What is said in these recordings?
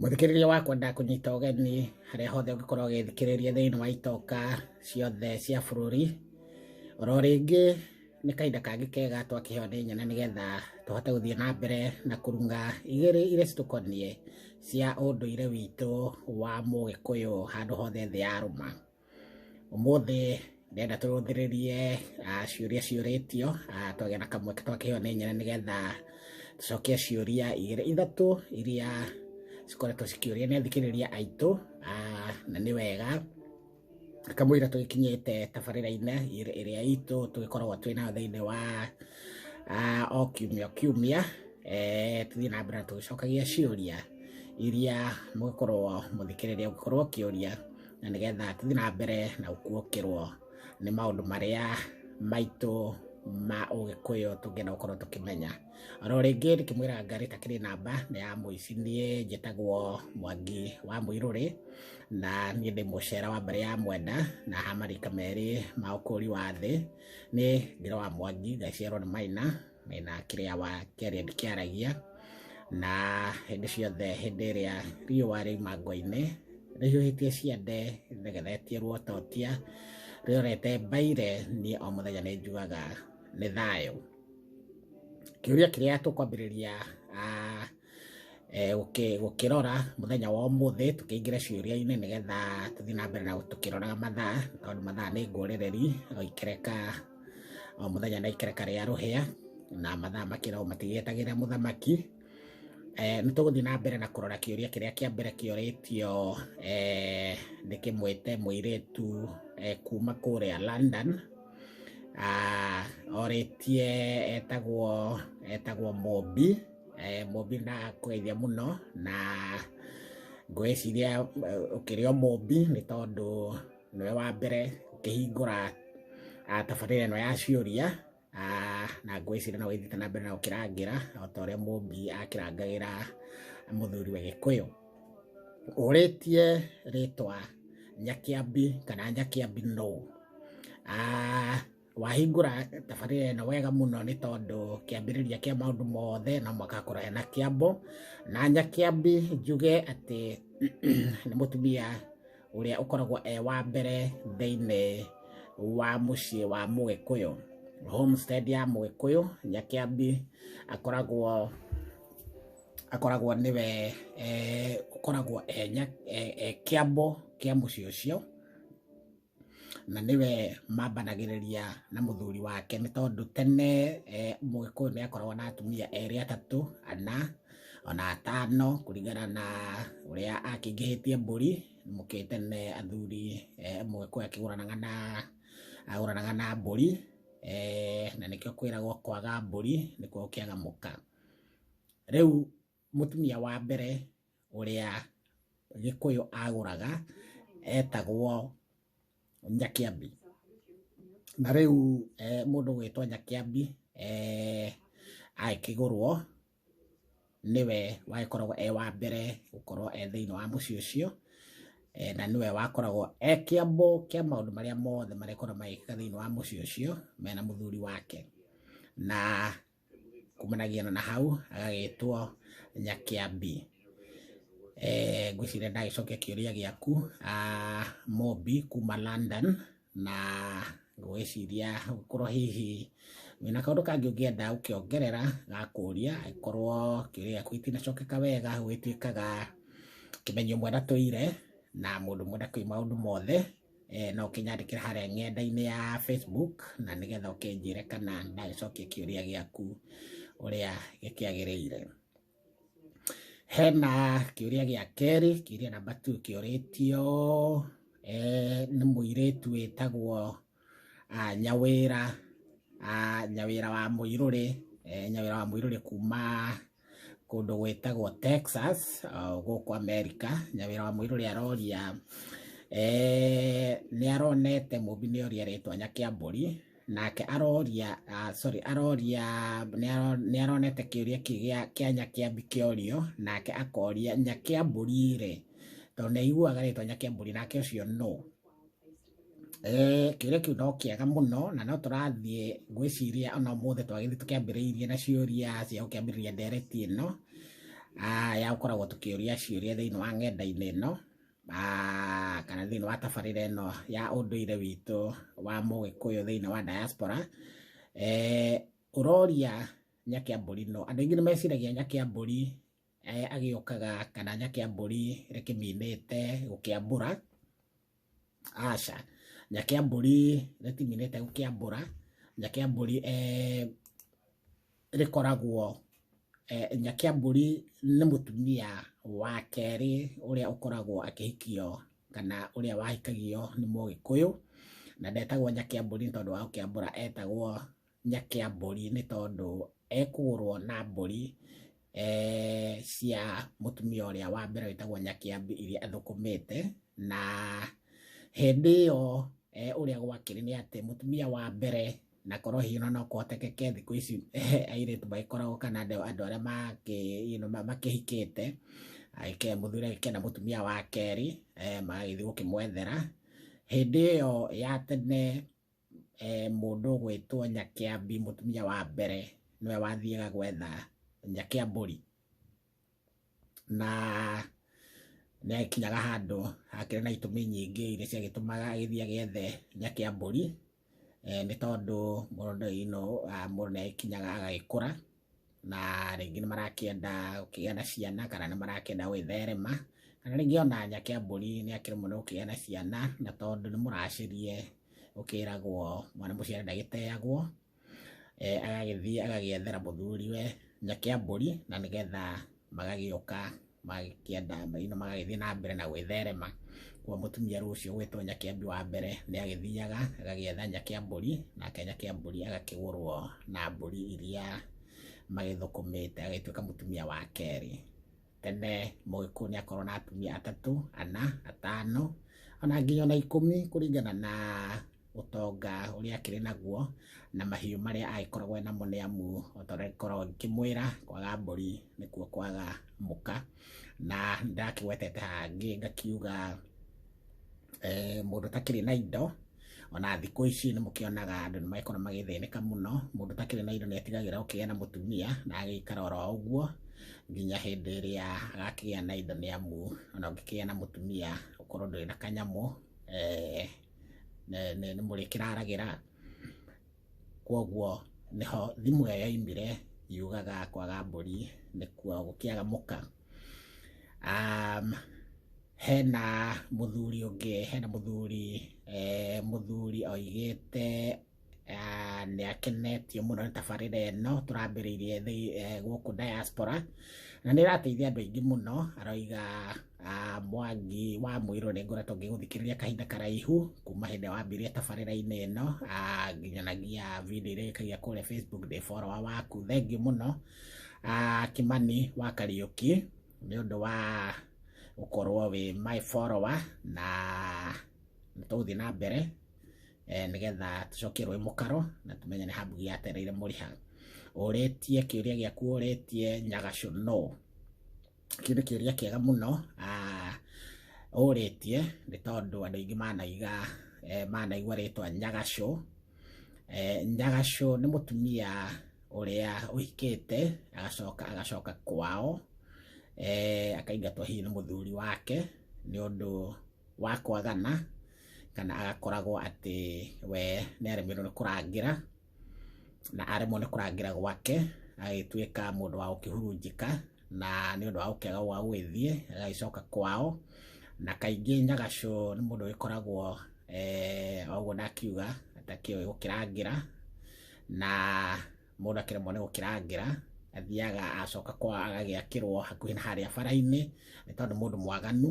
Mũthikĩrĩria wakwa ndakũnyita ũgeni harĩa hothe ũngĩkorwo ũgĩthikĩrĩria thĩinĩ wa itoka ciothe cia bũrũri. Oro rĩngĩ nĩ kahinda kangĩ kega twakĩheo nĩ nyene nĩgetha tũhote gũthiĩ na mbere na kũrunga igĩrĩ iria citũkoniĩ cia ũndũire witũ wa Mũgĩkũyũ handũ hothe thĩ yarũma. Ũmũthĩ ndĩrenda tũrũthĩrĩrie ah, ciũria ciũrĩtio ah, twagĩa na kamweke twakĩheo nĩ nyene nĩgetha tũcokie ciũria igĩrĩ ithatũ iria cikoretwo cikĩũria nĩ athikĩrĩria aitũ ah, na nĩ wega kamũira tũgĩkinyĩte tabarĩra-inĩ ĩrĩ- ĩrĩa itũ tũgĩkoragwo twĩ nayo thĩinĩ wa ah, o kiumia o kiumia eh, tũthiĩ na mbere na tũgĩcokagia ciũria iria mũgĩkorwo mũthikĩrĩria ũgĩkorwo ũkĩũria na nĩgetha tũthiĩ na mbere na gũkuokĩrwo nĩ maũndũ marĩa maitũ ma ũgĩkũyũ tũngĩenda gũkorwo tũkĩmenya oro rĩngĩ ndĩkĩmwĩra ngarĩ ta kĩrĩ namba nĩ ya mũici niĩ njĩtagwo mwangi wa mũirũrĩ na niĩ ndĩ mũcera wa mbarĩ ya mwenda na hamarika merĩ ma ũkũri wa thĩ nĩ ngĩrĩ wa mwangi ngaciarwo nĩ maina mena kĩrĩa wa kĩrĩa kĩaragia na hĩndĩ ciothe hĩndĩ ĩrĩa riũa rĩ mango-inĩ rĩhiũhĩtie ciande rĩgeretie ruototia rĩorete mbaire niĩ o mũthenya nĩ njugaga nĩ thayũ kĩũria kĩrĩa tũkwambĩrĩria ah, gũkĩrora mũthenya wa ũmũthĩ tũkĩingĩre ciũria-inĩ nĩgetha tũthiĩ na mbere na tũkĩroraga mathaa tondũ mathaa nĩ ngũrĩrĩri o ikereka o mũthenya na ikereka rĩa rũhĩa na mathaa makĩra o matigĩetagĩra mũthamaki nĩ tũgũthiĩ na mbere na kũrora kĩũria kĩrĩa kĩa mbere kĩoretio ndĩkĩmwĩte mũirĩtu kuma kũrĩa London oretie etagwo etagwo Mobi. Eh, mũmbi na kũgeithia mũno na ngwĩciria eh, ũkĩrĩ o mũmbi nĩ tondũ nĩwe wa mbere ũkĩhingũra ah, tabarĩra ĩno ya ciũria Ah, na ngwĩciria no wĩthiĩte na mbere na gũkĩrangĩra o ta ũrĩa mũmbi akĩrangagĩra mũthuri wa gĩkũyũ ũrĩtie rĩtwa nyakĩambi kana nyakĩambi no Ah, wahingũra tabarĩra ĩno wega mũno nĩ tondũ kĩambĩrĩria kĩa maũndũ mothe no mwaka akorwo ena kĩambo na nyakĩambi njuge atĩ nĩ mũtumia ũrĩa ũkoragwo e wa mbere thĩinĩ wa mũciĩ wa mũgĩkũyũ homestead ya mũgĩkũyũ nyakĩambi akoragwo akoragwo nĩwe eh, ũkoragwo e nya- e- e kĩambo kĩa mũciĩ ũcio na nĩwe mambanagĩrĩria na mũthuri wake nĩ tondũ tene eh, mũgĩkũyũ nĩ akoragwo na atumia erĩ atatũ ana ona atano kũringana na ũrĩa akĩingĩhĩtie mbũri mũkĩte nĩ athuri eh, mũgĩkũyũ akĩgũranaga na agũranaga na mbũri eh, na nĩkĩo kwĩragwo kwaga mbũri nĩkuo ũkĩaga mũka rĩu Mũtumia wa mbere ũrĩa Gĩkũyũ agũraga etagwo Nyakĩambi. Na rĩu mũndũ ũgwĩtwo Nyakĩambi agĩkĩgũrwo nĩwe wagĩkoragwo e wa mbere gũkorwo e thĩiniĩ wa mũciĩ ũcio, na nĩwe wakoragwo e kĩambo kĩa maũndũ marĩa mothe marĩkoragwo magĩkĩka thĩiniĩ wa mũciĩ ũcio mena mũthuri wake. Na kumanagia na hau agagĩtwo Nyakĩambi. Eh, ngwĩciria ndagĩcokia kĩũria gĩaku ah, Mobi kuma London na ngwĩciria gũkorwo hihi wĩna kaũndũ kangĩ ũngĩenda ũkĩongerera gakũria angĩkorwo kĩũria gĩaku itinacokeka wega gwĩtuĩkaga kĩmenyo mwena tũire na mũndũ mwenda kĩ maũndũ mothe eh, no ũkĩnyandĩkĩra harĩa ng'enda-inĩ ya Facebook na nĩgetha ũkĩnjĩre kana ndagĩcokia kĩũria gĩaku ũrĩa gĩkĩagĩrĩire. Hena kĩũria gĩa kerĩ, kĩũria namba tu kĩũrĩtio eh, nĩ mũirĩtu wĩtagwo ah, Nyawĩra ah, Nyawĩra wa Mũirũrĩ eh, Nyawĩra wa Mũirũrĩ kuma kũndũ gwĩtagwo Texas gũkũ Amerika, nyawĩra wa mũirũrĩ aroria nĩ aronete mũmbi nĩ oria rĩtwa nyakĩambũri nake aroria sorry aroria nĩ aronete kĩũria kĩgĩa kĩa nyakĩambi kĩorio nake akoria nyakĩambũri rĩ tondũ nĩ aiguaga rĩtwa nyakĩambũri nake ũcio no Eh, kĩũria kĩu no kĩega mũno na no tũrathiĩ ngwĩciria ona ũmũthĩ twagĩthiĩ tũkĩambĩrĩirie na ciũria cia gũkĩambĩrĩria ndereti ĩno ah, ya gũkoragwo tũkĩũria ciũria thĩinĩ wa ng'enda-inĩ ĩno ah, kana thĩinĩ wa tabarĩra ĩno ya ũndũire witũ wa mũgĩkũyũ thĩinĩ wa diaspora eh, ũroria nyakĩambũri no andũ aingĩ nĩ meciragia nyakĩambũri agĩokaga kananya kĩa mbũri rĩkĩminĩte gũkĩambũra, aca, na kĩa mbũri rĩtiminĩte gũkĩambũra, na kĩa mbũri rĩkoragwo, na kĩa mbũri nĩ mũtumia wa kerĩ ũrĩa ũkoragwo akĩhikio kana ũrĩa wahikagio nĩ mũgĩkũyũ, na ndetagwo Nyakĩambũri nĩ tondũ wa gũkĩambũra etagwo nyakĩa mbũri nĩ tondũ ekũgũrwo na mbũri cia mũtumia ũrĩa wa mbere wĩtagwo Nyakĩambi iria athũkũmĩte, na hĩndĩ ĩyo ũrĩa gwakĩrĩ nĩ atĩ mũtumia wa mbere na korwo hihi no kũhotekeke thikũ ici airĩtu magĩkoragwo kana andũ arĩa makĩhikĩte, mũthuri agĩkĩgĩa na mũtumia wa kerĩ magagĩthiĩ gũkĩmwethera, hĩndĩ ĩyo ya tene eh, mũndũ ũgwĩtwo Nyakĩambi mũtumia wa mbere nĩwe wathiaga gwetha Nyakĩambũri na nĩ akinyaga handũ hakĩrĩ na itũmi nyingĩ iria ciagĩtũmaga agĩthiĩ agĩethe Nyakĩambũri eh, nĩ tondũ mũndũ ino ah, mũndũ nĩ agĩkinyaga agagĩkũra na rĩngĩ nĩ marakĩenda gũkĩgĩa na ciana kana nĩ marakĩenda gwĩtherema kana rĩngĩ ona nyake ya mbũri nĩ akĩrĩ mũno gũkĩgĩa na ciana na tondũ nĩ mũracĩrie ũkĩragwo mwana mũciare ndagĩteagwo eh, agagĩthiĩ agagĩethera mũthuri we nyake ya mbũri na nĩgetha magagĩũka magĩkĩenda maina magagĩthiĩ na mbere na gwĩtherema kwa mũtumia rũcio gwĩtwo nyakĩambi wa mbere nĩ agĩthiaga agagĩetha nyakĩambũri nake nyakĩambũri agakĩgũrwo na mbũri iria magĩthũkũmĩte agĩtuĩka mũtumia wa kerĩ tene mũgĩkũyũ nĩ akorwo na atumia atatũ ana atano ona nginya ona ikũmi kũringana na ũtonga ũrĩa akĩrĩ naguo na mahiũ marĩa agĩkoragwo enamo nĩ amu ota ũrĩa ngĩkoragwo ngĩkĩmwĩra kwaga mbũri nĩkuo kwaga mũka na nĩ ndakĩgwetete hangĩ ngakiuga mũndũ ũtakĩrĩ na indo ona thikũ ici nĩ mũkĩonaga andũ nĩ magĩkoragwo magĩthĩnĩka mũno, mũndũ ũtakĩrĩ na indo nĩ atigagĩra gũkĩgĩa na mũtumia na agagĩikara oro ũguo nginya hĩndĩ ĩrĩa agakĩgĩa na indo nĩ amu ona ũngĩkĩgĩa na mũtumia ũkorwo ndũrĩ na kanyamũ ne- ne- nĩ mũrĩkĩraragĩra kwoguo nĩho thimũ ĩyo yaimire yugaga kwaga mbũri nĩkuo gũkĩaga mũka um, hena mũthuri ũngĩ hena mũthuri eh, mũthuri oigĩte nĩ akenetio mũno nĩ tabarĩra ĩno tũrambĩrĩirie gũkũ diaspora na nĩ ĩrateithia andũ aingĩ mũno, aroiga Mwangi wa Mũirũ nĩ ngoretwo ngĩgũthikĩrĩria kahinda karaihu kuma hĩndĩ ĩrĩa wambirie tabarĩra-inĩ ĩno nginyanagia video iria wĩkagia kũrĩa Facebook ndĩ follower waku, thengiũ mũno Kimani wa Kariũki nĩ ũndũ wa gũkorwo wĩ my follower na tũgũthiĩ na mbere. eh, nĩgetha tũcokerwe mũkaro na tũmenye nĩ hambugi yatereire mũrĩha ũrĩtie kĩũria gĩaku ũrĩtie nyagacũ no kĩu nĩ kĩũria kĩega mũno ah, ũrĩtie nĩ tondũ andũ aingĩ manaiga eh, manaigua rĩtwa nyagacũ Eh, nyagacũ nĩ mũtumia ũrĩa ũhikĩte agacoka agacoka kwao eh, akaingatwo hihi nĩ mũthuri wake nĩ ũndũ wa kwagana kana agakoragwo atĩ we nĩ aremirwo nĩ kũrangĩra na aremwo nĩ kũrangĩra gwake agĩtuĩka mũndũ wa gũkĩhurunjĩka na nĩ ũndũ wa gũkĩaga gwa gwĩthiĩ agagĩcoka kwao na kaingĩ nyagacũ nĩ mũndũ ũgĩkoragwo eh, o ũguo ndakiuga atakĩũĩ gũkĩrangĩra na mũndũ akĩremwo nĩ gũkĩrangĩra athiaga acoka kwa agagĩakĩrwo hakuhĩ na harĩa bara-inĩ nĩ tondũ mũndũ mwaganu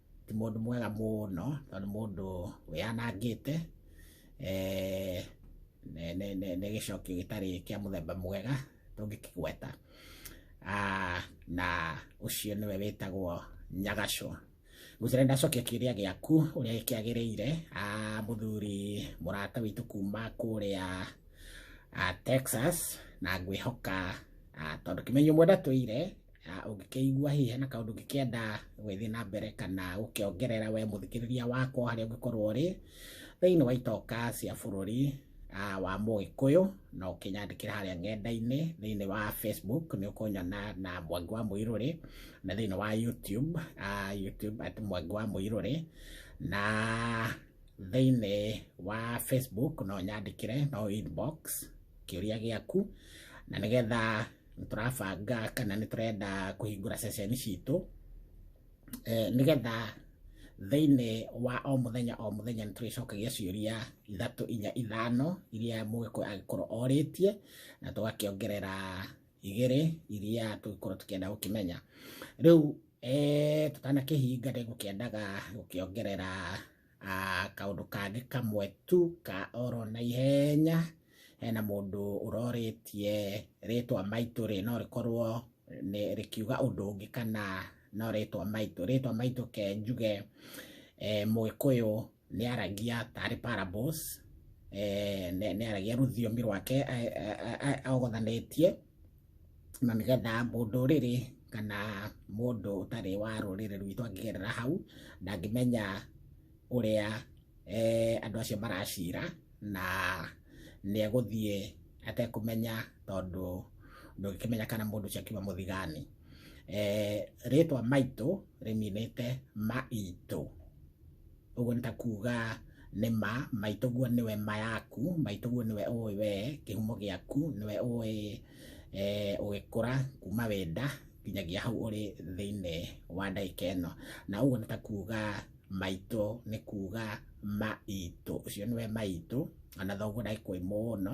ti mũndũ mwega mũno tondũ nĩ mũndũ wĩyanangĩte eh, nĩ- nĩ- nĩ nĩ gĩcokio gĩtarĩ kĩa mũthemba mwega tũngĩkĩgweta Ah, na ũcio nĩwe wĩtagwo nyagacũ gũcira ndacokia kĩrĩa gĩaku ũrĩa gĩkĩagĩrĩire Ah, mũthuri mũrata witũ kuma kũrĩa ah, texas na ngwĩhoka ah, tondũ kĩmenyo mwenda tũire ũngĩkĩigua hihi hena kaũndũ ũngĩkĩenda gwĩthiĩ na mbere kana gũkĩongerera we mũthikĩrĩria wakwa harĩa ũngĩkorwo ũrĩ thĩinĩ wa itoka cia bũrũri ah, wa mũgĩkũyũ no ũkĩnyandĩkĩra harĩa ng'enda-inĩ thĩinĩ wa facebook nĩ ũkũnyona na mwangi wa mũirũrĩ na thĩinĩ wa youtube ah, youtube at mwangi wa mũirũrĩ na thĩinĩ wa facebook no nyandĩkĩre no inbox kĩũria gĩaku na nĩgetha nĩ tũrabanga kana nĩ tũrenda kũhingũra ceceni citũ eh, nĩgetha thĩinĩ wa o mũthenya o mũthenya nĩ tũrĩcokagia ciũria ithatũ inya ithano iria mũgĩkũyũ agĩkorwo orĩtie na tũgakĩongerera igĩrĩ iria tũgĩkorwo tũkĩenda gũkĩmenya rĩu eh, tũtanakĩhinga nĩ ngũkĩendaga gũkĩongerera Ah, kaũndũ kangĩ kamwe tu ka oro na ihenya hena mũndũ ũrorĩtie rĩtwa maitũ rĩ no rĩkorwo nĩ rĩkiuga ũndũ ũngĩ kana no rĩtwa maitũ rĩtwa maitũ ke njuge eh, mũgĩkũyũ nĩ aragia tarĩ parables eh, nĩ nĩ aragia rũthiomi rwake eh, eh, eh, ogothanĩtie na nĩgetha mũndũrĩrĩ kana mũndũ ũtarĩ wa rũrĩrĩ rwitũ angĩgerera hau ndangĩmenya ũrĩa andũ acio maracira na nĩ egũthiĩ atekũmenya tondũ ndũngĩkĩmenya kana mũndũ ũcio akiuma mũthigani. Rĩtwa maitũ rĩninĩte maitũ. ũguo nĩ ta kuga nĩ ma maitũguo nĩwe ma yaku maitũguo nĩwe ũĩ we kĩhumo gĩaku nĩwe ũĩ eh, ũgĩkũra kuma wĩ nda nginyagia hau ũrĩ thĩinĩ wa ndagĩka ĩno na ũguo nĩ ta kuga maitũ nĩ kuga maitũ ũcio nĩwe maitũ ona thoguo ndagĩkũĩ mũno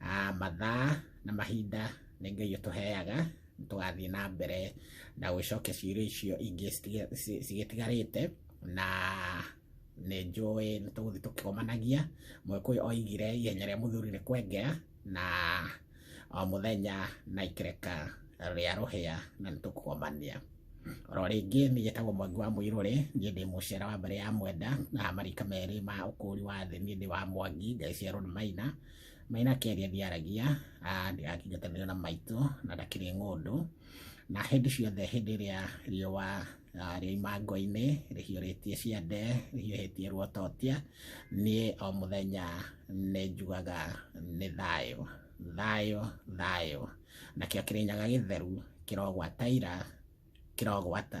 Ah, mathaa na mahinda nĩ ngai ũtũheaga tũgathiĩ na mbere na gũcokia ciũria icio ingĩ citiga- ci- cigĩtigarĩte na nĩ njũĩ nĩ tũgũthiĩ tũkĩgomanagia mũgĩkũyũ oigire ihenya rĩa mũthuri nĩ kwengera na o mũthenya na ikereka rĩa rũhĩa na nĩ tũkũgomania oro rĩngĩ nĩ njĩtagwo mwangi wa mũirũrĩ niĩ ndĩ mũcera wa mbere ya mwenda na marika merĩ ma ũkũri wa thĩ niĩ ndĩ wa mwangi ngai cia rũnĩ maina Maina Keri athiaragia akĩnjatanĩra na maitũ na ndakĩrĩ ng'ũndũ na hĩndĩ ciothe hĩndĩ ĩrĩa riũa rĩa imango-inĩ rĩhiũrĩtie ciande rĩhiũhĩtie ruototia niĩ o mũthenya nĩ njugaga nĩ thayũ thayũ thayũ nakĩo kĩrĩnyaga gĩtheru kĩrogwata ira kĩrogwata